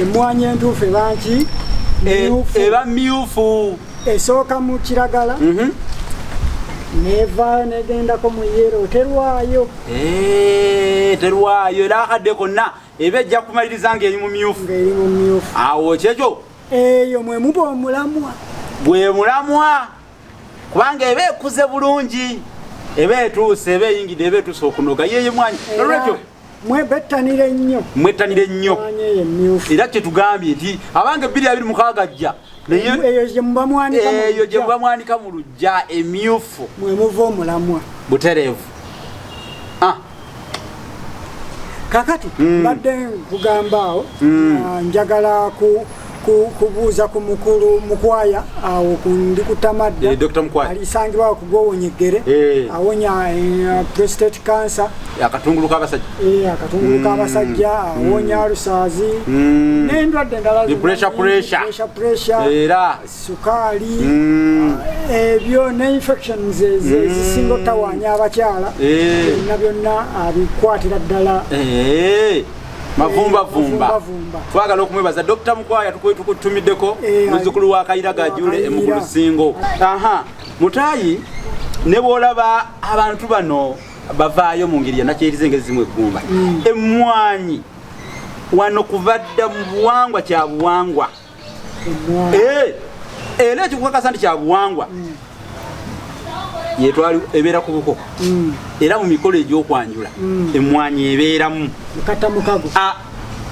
emwanyi entuufu ebanki eba myufu esooka mu kiragala mhm. nevaayo negendako mu yero terwayo eh, terwayo era akadde konna eba ejja kumaliriza ngaeri mu myufu awo kyekyo eyo mwemuba omulamwa gwe mulamwa kubanga eba ekuze bulungi eba etuuse eba eyingidde eba etuuse okunoga yeye mwanyi nolwekyo mwebettanire nnyo mwettanire nnyo era kyetugambye nti abange ebbiri abiri mukaaga jja eyo gye mubamwanika mu lujja emyufu mwemuva omulamwa butereevu ah. kakati mm. mbadde nkugambaawo mm. uh, njagala ku kubuuza ku mukulu mukwaya awo ndi kutamadda eh, alisangibwa okugwowonyegere eh. awonya eh, prostate cancer akatungulu kabasajja akatungulu mm. kabasajja mm. awonya alusaazi mm. nendwadde endala pressure pressure era sukaali mm. ebyo eh, ne infections ezisinga mm. otawaanya abakyala eh. byonna byonna abikwatira ddala eh. mavumbavumba twagala okumwebaza dr mukwaya tukutumiddeko muzukulu wa kayira gajule emugulu singo aha mutayi ne bwolaba abantu bano bavaayo mu ngeri yanakyeriza engeri zimu eggumba mm. emmwanyi wano kuva dda mu buwangwa kya buwangwa eh, era ekikukakasa nti kyabuwangwa mm. yetwali ebeera ku buko mm. era mu mikolo egyokwanjula mm. emmwanyi ebeeramu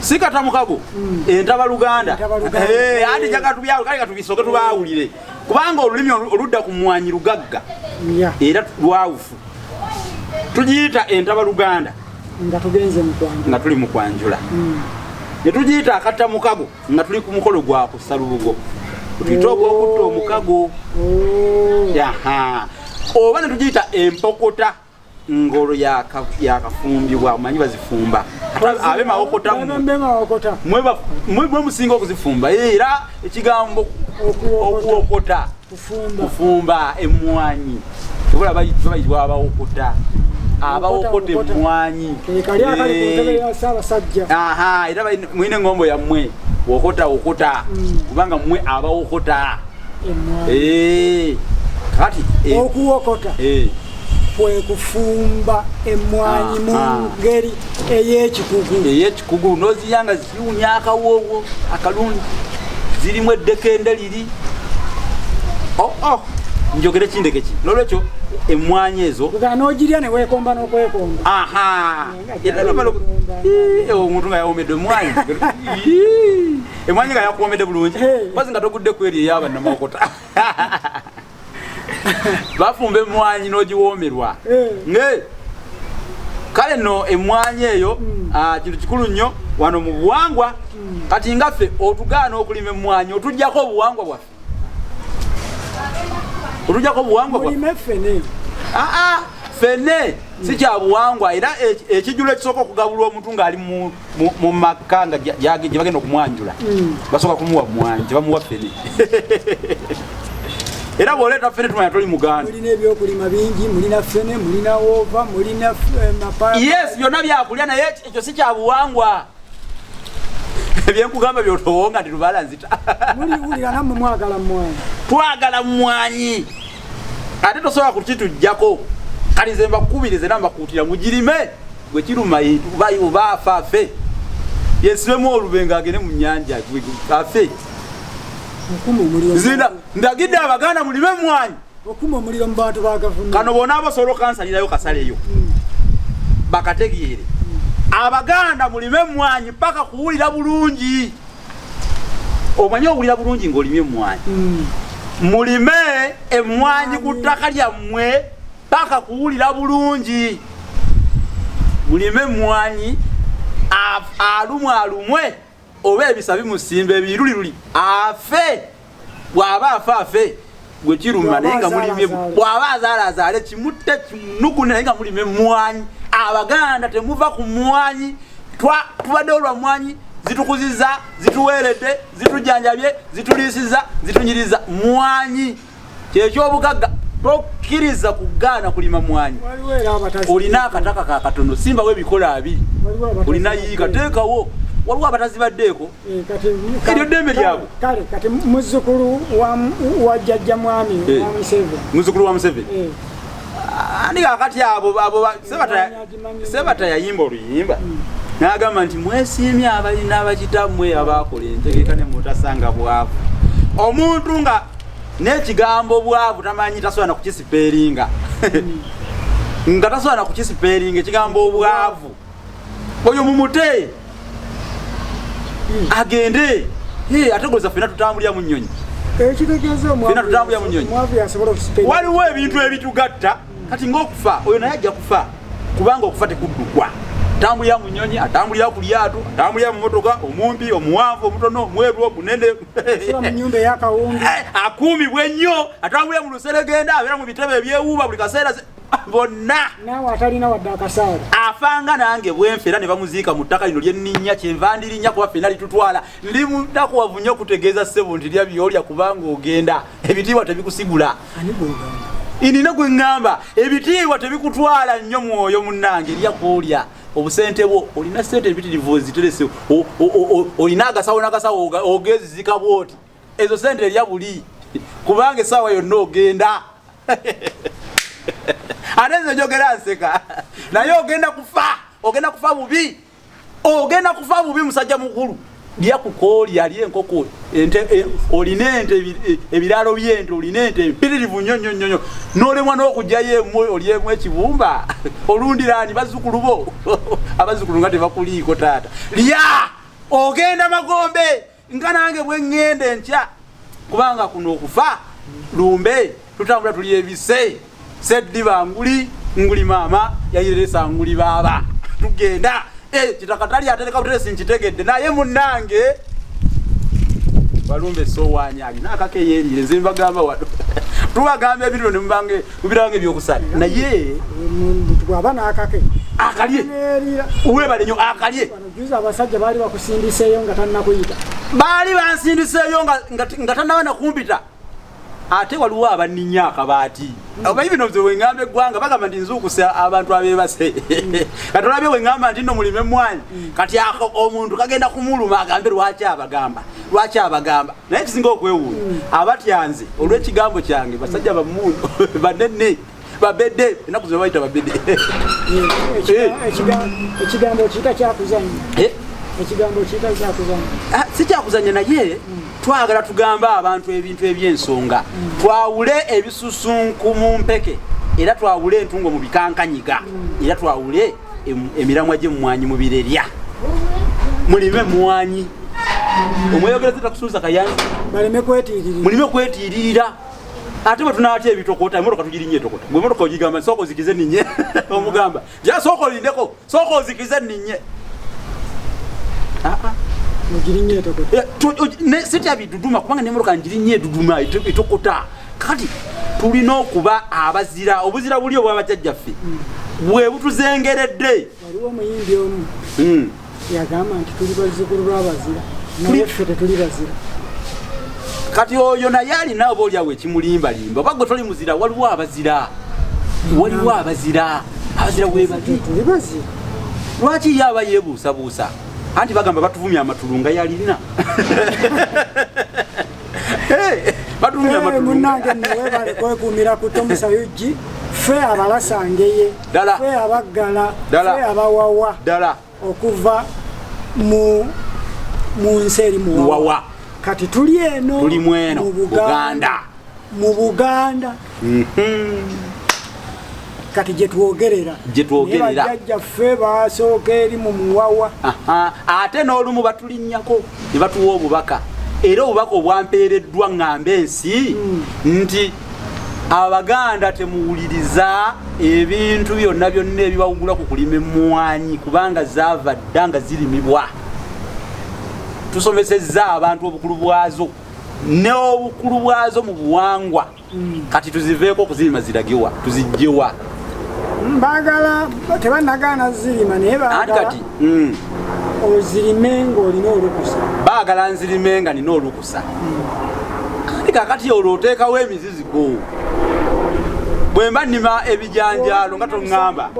si kata mukago mm. entaba luganda eh, andi jagatubyawo kale katubisoke tubaawulire kubanga olulimi oludda ku mmwanyi lugagga era lwawufu tugiyita entaba luganda nga tuli mu kwanjula netugiyita akatta mukago nga tuli ku mukolo gwa kussa lubugo tuyite ogwokutta omukago oba ne tugiyita empokota ngolo yakafumbibwa omanyi bazifumba abe mawokota mwe musinga okuzifumba era ekigambo okuwokota kufumba emmwanyi tubula bayitibwa abawokota abawokota emmwanyi era mwine engombo yammwe wokota wokota mm. kubanga mmwe abawokota eh, kati eh. okuwokota eh. kwekufumba emmwanyi mu ngeri eyekikugu eyekikugu noziyanga ziwunya akawoowo akalungi zirimu eddekende liri oh, oh. njogere kindeke ki nolwekyo emwanyi ezo nogirya newekomba nokwekomba omuntu nga yawomedde emwanyi emwanyi nga yakuwomedde bulungi bazi nga togudde kweri eyabanamawokota bafumba emmwanyi n'ogiwoomerwa eh. naye kale no emmwanyi eyo hmm. ah, kintu kikulu nnyo wano mu buwangwa hmm. kati nga ffe otugaana okulima emmwanyi otugyako obuwangwa bwaffe otugyako obuwangwa bwaffe aa fene si kyabuwangwa era e, e, ekijulo ekisooka okugabulwa omuntu ng'ali mu mu makka nga gyebagenda okumwanjula mm. basooka kumuwa mwanyi tebamuwa fene era bwoleeta fene tumanya toli mugandayes eh, byonna byakulya naye ekyo si kyabuwangwa byenkugamba byotowo nga ndirubala nzita twagala mwanyi ate tosobola kukitujjako kati nze mbakubirize era mbakuutira mugirime gwe kiruma bayo baafa afe yesibemu olube ng'agende mu nnyanja afe zina ndagidde abaganda mulime emwanyi okuma omuliro mu bantu ba gavumenti kano bona abasobola okansalirayo kasaleyo hmm. bakategeere hmm. abaganda mulime emwanyi paka kuwulira bulungi omanye owulira bulungi ng'olimye emwanyi hmm. mulime emwanyi ku ttaka lyammwe paka kuwulira bulungi mulime mwanyi alumwe alumwe oba ebisa bimusimba ebiruliruli afe bwaba afe afe gwe kiruma naye nga mulime bwaba azaala azaale kimutte kinuku naye nga mulime mwanyi abaganda temuva ku mwanyi tubadde olwa mwanyi zitukuziza zituweeredde zitujanjabye zituliisiza zitunyiriza mwanyi kyekyobugagga tokiriza kugaana kulima mwanyi olina akataka kakatono simbawo ebikola abiri olina yiika teekawo waliwo abatazibaddeeko eh, eryo ddembe lyabwe kale kati muzukulu wa jajja mwami eh, muzukulu wa museveni eh. ani kakati abo abo sebataya Sebata yayimba oluyimba n'agamba nti mwesiimye abalina bakitammwe abaakola entegeka ne mutasanga bwavu omuntu nga n'ekigambo bwavu tamanyi tasobola nakukisipeeringa nga tasobola nakukisipeeringa ekigambo obwavu oyo mumute agende ategoleza fena tutambulira mu nnyonyi fena tutambulira mu nnyonyi waliwo ebintu ebitugatta kati ng'okufa oyo naye ajja kufa kubanga okufa tekuddukwa atambulira mu nyonyi atambulira ku lyato atambulira mu motoka omumpi omuwanvu omutono omweru omunene eh, akuumibwa ennyo atambulira mu luseregenda abeera mu bitebe ebyewuuba buli kaseera bonna afanga nange bwenfe era ne bamuziika mu ttaka lino lyenninnya kyenva ndirinnya kuba fena litutwala ndi mutakuwavu nnyo okutegeeza ssebo nti lya byolya kubanga ogenda ebitiibwa tebikusigula inina gwe ŋŋamba ebitiibwa tebikutwala nnyo mwoyo munnange erya kwolya obusente bwo olina sente ebitirivu oziterese olina agasawo nagasawo ogezizika bwoti ezo sente erya buli kubanga esaawa yonna ogenda ate nze njogera nseka naye ogenda kufa ogenda kufa bubi ogenda kufa bubi musajja mukulu lya kukooli ali enkoko ente e, olina ente e, ebiraalo byente olina ente mpiririvu nnyo nnyo nnyo nolemwa n'okugyayo emu olyemu ekibumba olundiraani bazzukulu bo abazzukulu nga tebakuliiko taata lya ogenda magombe nga nange bwe ŋŋenda enkya kubanga kuno okufa lumbe tutambula tuli ebise seddiba nguli nguli maama yayireresa nguli baaba tugenda eh, kitakatali atereka buteresi nkitegedde naye munnange balumbe sowanya alina akakeyenjire nze mbagamba wano tubagamba ebiriro nemubange mubiranga ebyokusala naye bwaba nakake akalye webale nyo akalye Juzi abasajja baali bakusindiseeyo nga tannakuyita. Baali bansindiseeyo nga tannaba nakumpita. Ate waliwo abanninya akabaati. Omanyi bino bye wengamba eggwanga bagamba nti nzuukuse abantu abeebase. Mm. Kati olabye wengamba nti nno mulime emmwaanyi. Mm. Kati ako omuntu kagenda kumuluma agambe lwaki abagamba. Lwaki abagamba. Naye kisinga okwewuunya. Mm. Abatyanze olw'ekigambo kyange basajja bammundu banene. babede enaku zino bayita babede ekigambo kiyita kyakuzanya eh? ekigambo kiyita kyakuzanya ah, si kyakuzanya naye hmm. twagala tugambe abantu ebintu ebyensonga hmm. twawule ebisusunku mu mpeke era twawule entungo mu bikankanyiga hmm. era twawule emiramwa gyemumwanyi mu birerya mulime mwanyi omweyogereza takusuuza kayanzi mulime kwetiiririra ate bwe tunaatya ebitokota emotoka tugirinya etokota gwe emotoka ogigamba sooka ozikize ninye omugamba ja sooka olindeko sooka ozikize ninye sitya biduduma kubanga nemotoka ngirinya eduduma etokota kati tulina okuba abazira obuzira buli obwabajajjaffe bwe butuzengeredde waliwo omuyimbi omu hmm. yagamba nti tuli bazzukulu lwabazira naye ffe tetuli bazira kati oyo naye alina oba olyawo ekimulimbalimba oba gwe toli muzira waliwo abazira waliwo abazira abazira webali lwaki ye aba yebuusabuusa anti bagamba batuvumya amatulu nga yalina batuvumya amatulu munange nawe balekwekuumira kutomusa ug ffe abalasangeye ddala fe abaggala fe abawawa ddala okuva mu mu nsi eri muwawa kati tuli eno tuli mweno mu buganda mu buganda mhm. kati gyetwogerera gyetwogererajajja ffe basooka eri mu muwawa ate n'olumu batulinnyako ne batuwa obubaka era obubaka obwampeereddwa ŋŋamba ensi hmm. nti abaganda temuwuliriza ebintu byonna byonna ebibawugula ku kulima emmwanyi kubanga zaava dda nga zirimibwa tusomesezza abantu obukulu bwazo n'obukulu bwazo mu buwangwa mm. kati tuziveeko okuzirima ziragewa tuzijjewa bagala tebanagaana zirima naye bagala mm. ozirime ng'olina olukusa bagala nzirime nga nina olukusa kati kakati olwo oteekawo emiziziko bwemba nima ebijanjaalo nga toŋŋamba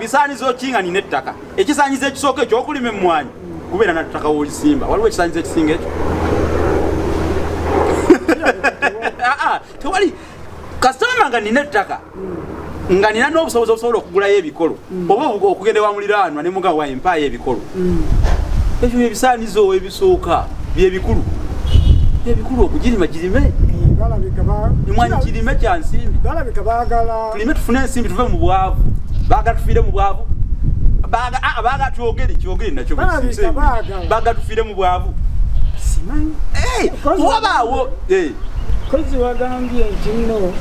bisaanizo ah, ah, kinga nina ettaka ekisaanyizo ekisooka ekyokulima emmwanyi kubeera nattaka wolisimba waliwo ekisaanyizo ekisinga ekyo ah, tewali kasitoma nga nina ettaka nga nina n'obusobozi obusobola okugulayo ebikolo mm. oba okugenda wa muliraanwa ne mugawa empaayo ebikolo mm. ekyo byebisaanizo ebisooka byebikulu ebikulu okugirima girime emwanyi kirime kya nsimbi tulime tufune ensimbi tuve mu bwavu baagala tufiire mu bwavu baagala ah, twogere kyogere nakyo baagala tufiire mu bwavu wabaawo eh, kozi wagambye nti nno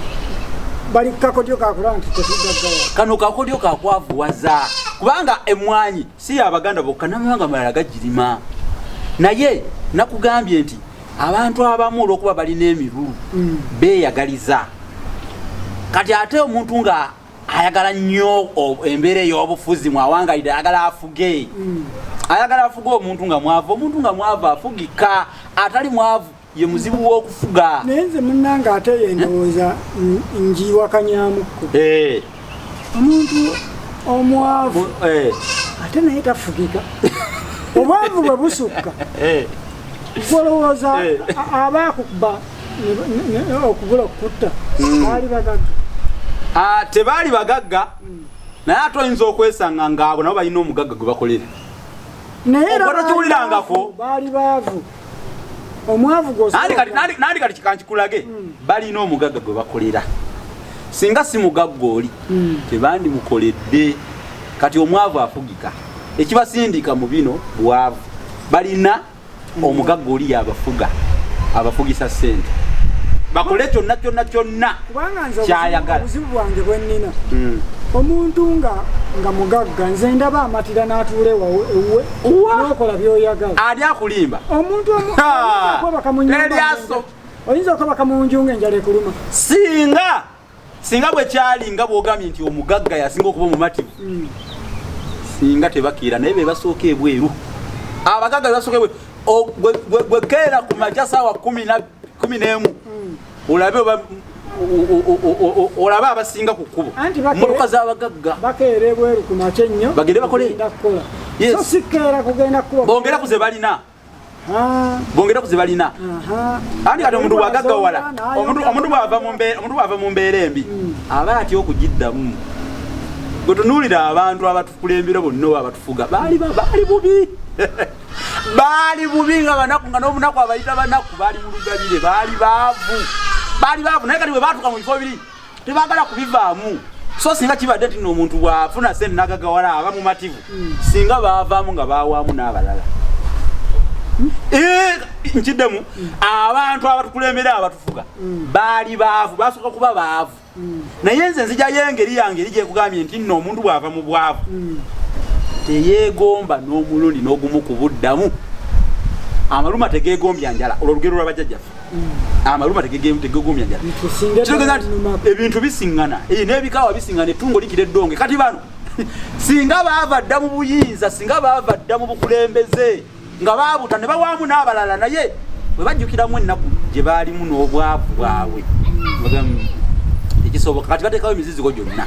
bali kakodyo kakulaba nti tetugaggala kano kakodyo kakwavuwaza kubanga emmwanyi si yabaganda bokka namawanga malala gagirima naye nakugambye nti abantu abamu olwokuba balina emirulu mm. beyagaliza kati ate omuntu nga ayagala nnyo embeera ey'obufuzi mwawangalidde ayagala afuge mm. ayagala afuge omuntu nga mwavu omuntu nga mwavu afugika atali mwavu ye muzibu w'okufuga naye nze munnange ate ye ndowooza ngiiwakanyamuko eh. omuntu omwavu eh. ate naye tafugika obwavu bwe busukka eh. gwolowooza aba akuba okubula okukutta hmm. baali bagagga ah, tebaali bagagga hmm. naye ate oyinza okwesanga ngaabo nabo balina omugagga gwe bakolera naye era baali baavu omwavu gwosinandi kati kikankikulage hmm. balina omugagga gwe bakolera singa si mugagga oli hmm. tebandimukoledde kati omwavu afugika ekibasindika mu bino bwavu balina hmm. omugagga oli yabafuga abafugisa sente bakole kyonna kyonna kyonna kyayagala obuzibu bwange bwennina omuntu nga nga mugagga nze ndaba amatira n'atuula ewuwe nokola byoyagala ani akulimba omuntu omuaso oyinza okabaka munju nga enjala ekuluma singa singa bwekyali nga bwogambye nti omugagga yasinga okuba omumativu hmm. singa tebakiira naye bebasooka ebweru abagagga bebasooka ebweru gwekeera ku maja saawa kumi nabbi kumi n'emu hmm. olabe oba olaba abasinga ku kkubo mmotoka z'abagagga bakeera ebweru ku makya ennyo bagende bakole so sikeera kugenda kukuba bongera ku ze balina bongera ku zibalina anti kati omuntu bwagagawala omuntu bwava mu mbeera embi hmm. aba atya okugiddamu gwetunuulira abantu abatukulembera bonna oba abatufuga baali bubi baali bubi nga banaku nga n'obunaku abayita banaku baali mulugabire baali baavu baali baavu naye kati bwe baatuka mu bifo biri tebagala kubivaamu so singa kibadde nti noomuntu bwafuna sente nagagawala aba mumativu hmm. singa baavaamu nga bawaamu n'abalala hmm? eh, nkiddemu hmm. abantu abatukulembera abatufuga baali baavu basooka kuba baavu naye nze nzijayo engeri yange eri gyekugambye nti nno omuntu bw'ava mu bwavu hmm. teyeegomba n'omulundi n'ogumu ku buddamu amaluma tegeegombya njala olwo olugero lwa bajjajjaffe hmm. amaluma tegeegombya njala kitegeza nti ebintu bisiŋŋana eh, n'ebikaawa bisiŋŋana ettungo likira eddonge kati bano singa baava dda mu buyinza singa baava dda mu bukulembeze nga baabuta ne bawaamu n'abalala naye bwe bajjukiramu ennaku gye baalimu n'obwavu bwabwe ekisoboka kati bateekawo emizizigo gyonna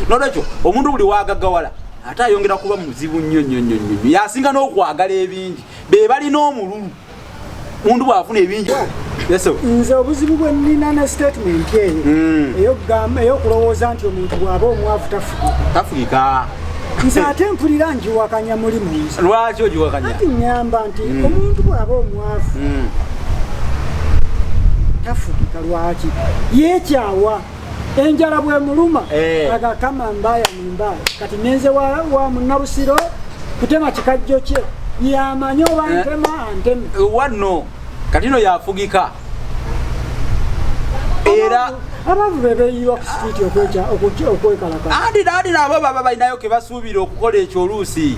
nolwekyo omuntu buli wagagawala ate ayongera kuba muzibu nnyo nnyo nnyo nnyo nnyo yasinga n'okwagala ebingi be balina omululu omuntu bw'afuna ebingi nze obuzibu bwe nnina ne sitatimenti eyo hmm. eyokulowooza nti omuntu bw'aba omwavu tafugika nze ate mpulira njiwakanya muli munsi lwaki ogiwakanya ati nyamba nti mm. omuntu bwaba omwavu mm. tafugika lwaki yekyawa enjala bwemuluma eh. agakama mbaya mumbaya kati nenze wa munabusiro kutema kikajjo kye yamanya oba eh. ntema anteme eh, wano kati no yafugika era abantu bebeyiwa ku sitiiti okweja okwekalaka andi nandi nabo baba balinayo kebasuubira okukola ekyo oluusi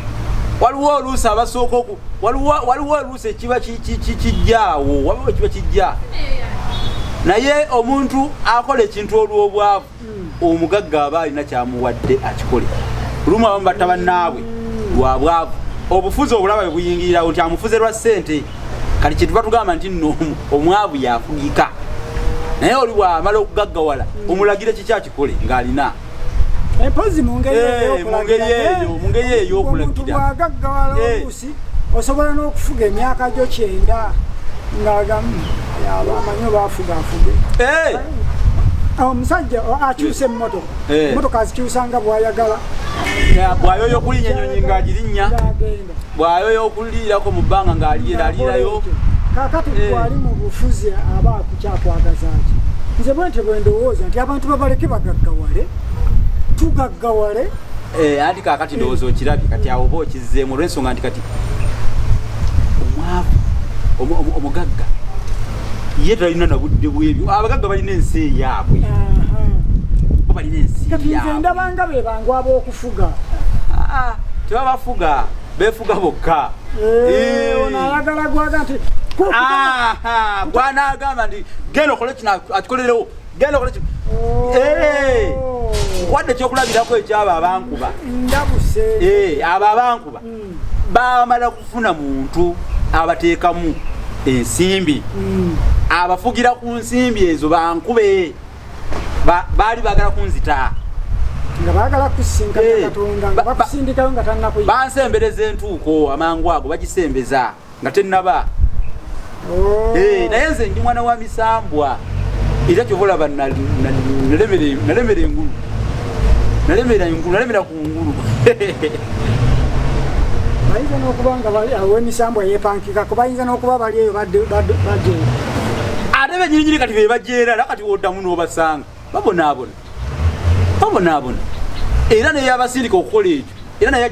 waliwo oluusi abasooka oku waliwo oluusi ekiba kijjaawo waliwo ekiba kijja naye omuntu akola ekintu olw'obwavu omugagga aba alina kyamuwadde akikole lumu abamu batta bannaabwe lwa bwavu obufuzi obulaba bwe buyingirirawo nti amufuze lwa ssente kati kyetuva tugamba nti nno omwavu yafugika naye oli bwamala okugaggawala omulagire kiki akikole ng'alina empozi mu ngeri eyo ey'okulagira osobola n'okufuga emyaka gyo kyenda ng'agamu amanyi oba afuga afuge eh! ah, omusajja oh, akyusa emmotoka eh. emmotoka azikyusa nga bwayagala bwayoyo okulinya enyonyi ng'agirinya bwayoyo okuliirako mu bbanga ng'aliyeraliirayo kakati eh. gwali mu bufuzi aba akukyakwagazaki nze bwentyo bwendowooza nti abantu babaleke bagaggawale tugaggawale Eh, anti kakati ndowooza okirabye kati awo oba okizzeemu olwensonga nti kati omwavu omugagga ye talina nabudde bwebyo abagagga balina ensi eyaabwe balina ensi ndabanga bebangu abokufuga ah, ah, tebabafuga befuga bokka eh, eh. onayagala gwaga nti gwanagamba nti genda okole kino akikolerewo genda okola ki oh. eh. wadde ekyokulabirako ekyabo abankuba eh, abo abankuba hmm. bamala kufuna muntu abateekamu ensimbi hmm. abafugira ku nsimbi ezo bankube baali bagala kunzita nga bagala kusinkana eh, katonda nga bakusindikayo nga tanakuyi bansembereza entuuko amangu ago bagisembeza nga tennaba oh. eh, naye nze ndi mwana wa misambwa era kyova olaba nalemera engulu nalemera engulu nalemera ku ngulu bayinza n'okuba nga awemisambwa yepankika ku bayinza n'okuba bali eyo bajeyo ate benyininyini kati bebajeera era kati oddamu n'obasanga babonaabona babonaabona era neyabasindika okukola ekyo era naye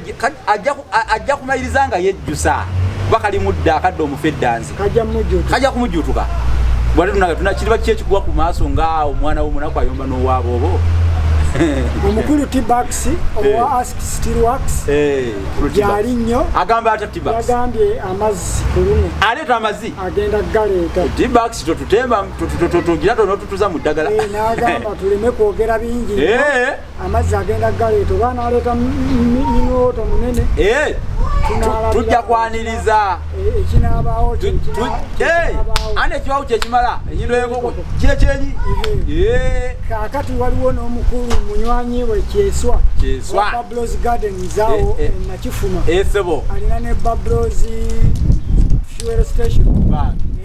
ajja kumaliriza nga yejjusa kuba kali mudda akadde omufa eddanzi kajja kumujjutuka bwate tunaga tunakiriba ki ekigwa ku maaso nga omwana womunaku ayomba n'owaaba obo omukulu tbax owa eh. ask stilwax eh, gyali nnyo agamba ata tbax yagambye amazzi ku luno aleeta amazzi agenda galeeta tbax totutemba tugira tonotutuza mu ddagala eh, nagamba tuleme kwogera bingi eh. amazzi agenda galeeta oba naleeta minooto munene eh. tujja kwaniriza ekinabaawo ane ekiwawo kyekimala enyindo yenkoko kyekyenyi kakati waliwo n'omukulu munywanyi we kyeswa bablos garden zawo nakifuma alina ne bablos fuel station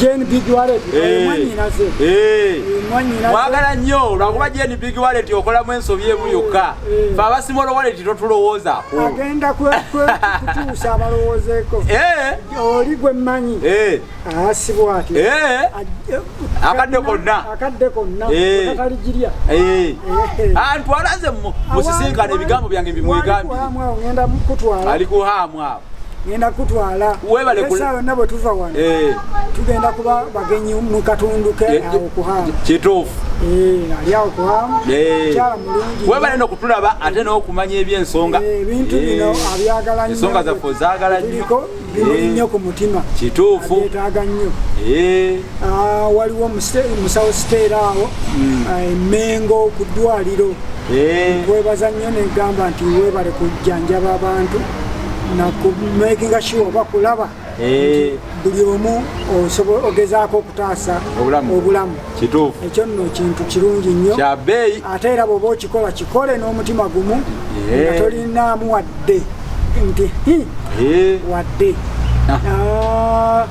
Jane Big Wallet eh, mwanyinaze eh. eh, mwagala nnyo lwakuba Jane Big Wallet okolamu ensobi emu yokka fe abasimolo wallet totulowoozaako agenda kutuusa abalowoozeeko oli gwe mmanyi asibwa ati akadde konna akadde konna kataligirya antwalaze musisinkana ebigambo byange bimwegambye ali kuhaamwa ngenda kutwala esa yonna bwe tuva wano eh. tugenda kuba bagenyi mu katundu ke eh, awo kuhamu kituufu eh, ali awo kuhamu kyala mulungi webale no kutulaba ate n'okumanya ebyensonga ebintu bino abyagala nyo ensonga zaffe ozaagala nyo bimuli nnyo ku mutima kituufu yetaaga nnyo ah, waliwo musawo siteera awo hmm. ah, emengo ku ddwaliro kwebaza nnyo negamba nti webale kujjanjaba abantu nakumakinga sure oba kulaba eh. buli omu ogezaako okutaasa obulamu kituufu ekyo nno kintu kirungi nnyo kyabeeyi ate era bwoba okikola kikole n'omutima gumu eh. nga tolinaamu wadde nti eh. wadde ah. Ah.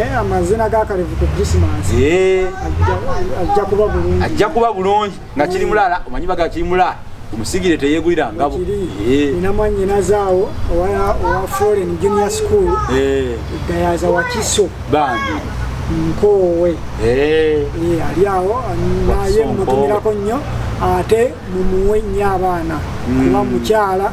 Eh, amazina ga kalevu ku christmas eh. ajja kuba bulungi ajja kuba bulungi nga kiri eh. mulala omanyi baga kiri mulala omusigire teyegulira ngabo ina mwanyinazaawo owa foreign junior school gayaza wakiso bambi nkoowe ali awo naye mutumirako nnyo ate mumuwe nnyo abaana mm. kuba mukyala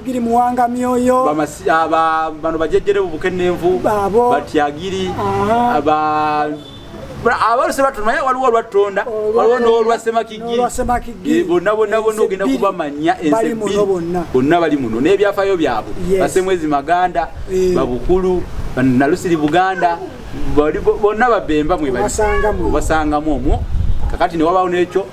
Giri muwanga myoyo aba bano bajejjere bubukenenvu batyagiri aba abaluse battu naye waliwo olwattonda waliwo n'olwasemakigiri bonna bonna bonna ogenda kubamanya ensi bonna bali muno n'ebyafayo byabwe basemwezi maganda eh. babukulu nalusiri buganda bonna babemba mwebasangamu omwo kakati newabawo nekyo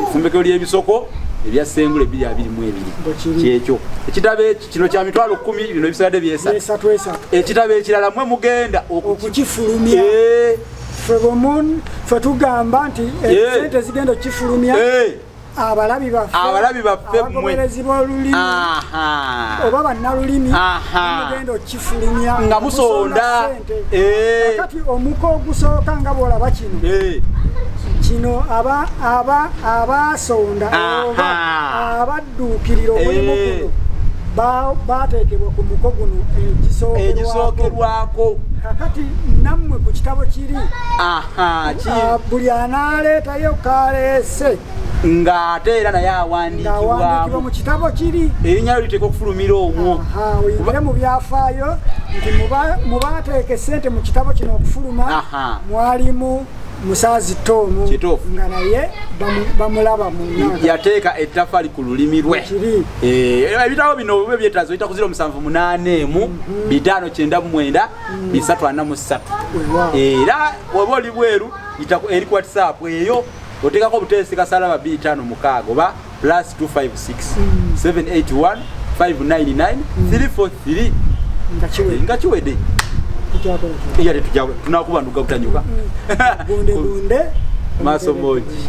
efumbekero eh, lyebisoko ebya sengula ebiri abiri mu ebiri kyekyo ekitabo kino kya mitwalo kumi bino ebisalade byesatu ekitabo ekirala mwe mugenda okukifulumya eh. fetugamba nti eh, sente zigenda okukifulumya abalabi baffe abalabi baffe abagoberezi b'olulimi oba bannalulimi mugenda okifulumya nga musonda eh. kati omuka ogusooka nga bwolaba kino eh. kino abaasonda oba abadduukirira omulimu eh. guno baateekebwa ku muko guno egisookerwako kakati nammwe ku kitabo kiri Ah, ah, buli anaaleetayo kaleese ng'ate era naye awandiikibwamu mu kitabo kiri erinnya lyo liteeka okufulumira omwo oyingire mu byafaayo nti mu baateeka essente mu kitabo kino okufuluma mwalimu musaazi toomu nga naye bamulaba muyateeka ettafali ku lulimi lwe eh, ebitabo bino bwe byetaaza oyita kuzira omusanvu munaana emu mhm. bitaano kyenda mumwenda bisatu ana mu ssatu era waba oli bweru eri ku whatsapp eyo oteekako obuteesi kasalaba bbiri tano mukaaga oba plus 256 781 599 343 nga kiwede eyate tunakuba nduga butanyuka maso moji